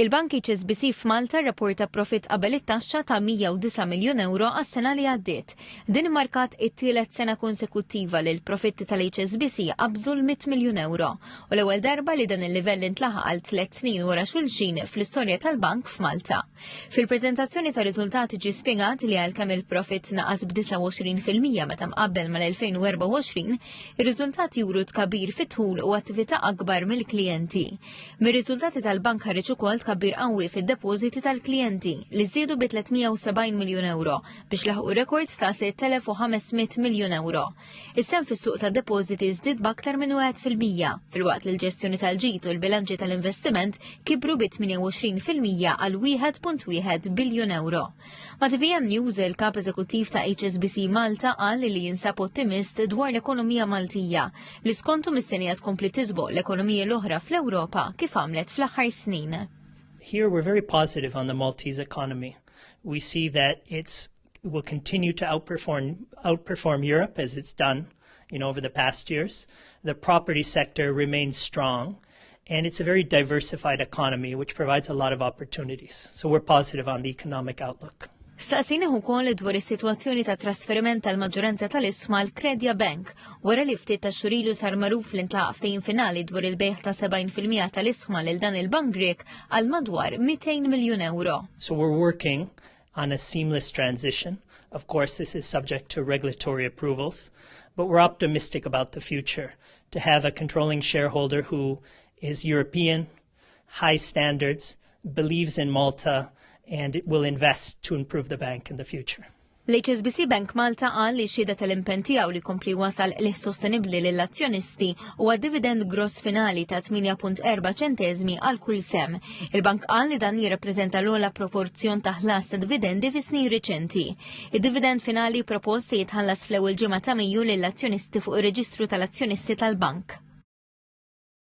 Il-bank HSBC f'Malta rrapporta profitt qabel it-taxxa ta' 109 miljun ewro għas-sena li għaddiet. Din immarkat it-tielet sena konsekuttiva li l-profitti tal-HSBC qabżu l-100 miljun ewro u l-ewwel darba li dan il-livell intlaħaq għal tliet snin wara xulxin fl-istorja tal-bank f'Malta. Fil-preżentazzjoni tar-riżultati ġie spjegat li għalkemm il-profitt naqas b'29 fil-mija meta mqabbel mal-2024, ir-riżultati juru tkabir fit-dħul u attività akbar mill-klijenti. Mir-riżultati tal-bank ħareġ ukoll tkabbir qawwi fid-depożiti tal-klijenti li żdiedu bi 370 miljun euro biex laħqu rekord ta' 6,500 miljun euro. Is-sehem fis-suq tad-depożiti żdied b'aktar minn wieħed fil-mija, filwaqt li l-ġestjoni tal-ġid u l-bilanċi tal-investiment kibru bi 28 fil-mija għal 1.1 biljun euro. Ma' TVM News, il-Kap Eżekuttiv ta' HSBC Malta qal li jinsab ottimist dwar l-ekonomija Maltija li skontu mistennija tkompli tisboq l-ekonomiji l-oħra fl-Ewropa kif għamlet fl-aħħar snin. Here we're very positive on the Maltese economy. We see that it will continue to outperform, outperform Europe as it's done You know, over the past years, the property sector remains strong and it's a very diversified economy which provides a lot of opportunities. So we're positive on the economic outlook. Saqsini hu kol dwar is-sitwazzjoni ta' trasferiment tal-maġġoranza tal-isma l-Kredja Bank wara li ftit ta' xurilu sar magħruf li ntlaqaf ftehim finali dwar il-bejħ ta' 70% tal-isma lil dan il-bank Grek għal madwar 200 miljun euro. So we're working on a seamless transition. Of course, this is subject to regulatory approvals, but we're optimistic about the future to have a controlling shareholder who is European, high standards, believes in Malta, and will invest to improve the bank in the future. L-HSBC Bank Malta għal li xieda tal-impen tiegħu li kompli wasal li sostenibli lill azzjonisti u għad dividend gross finali ta' 8.4 ċentezmi għal kull sem Il-bank qal li dan jirrappreżenta l-ogħla proporzjon ta' ħlas ta' dividendi fi snin riċenti. Id-dividend finali propost se jitħallas fl-ewwel ġimgħa ta' Mejju lill-azzjonisti fuq ir-reġistru tal-azzjonisti tal-bank.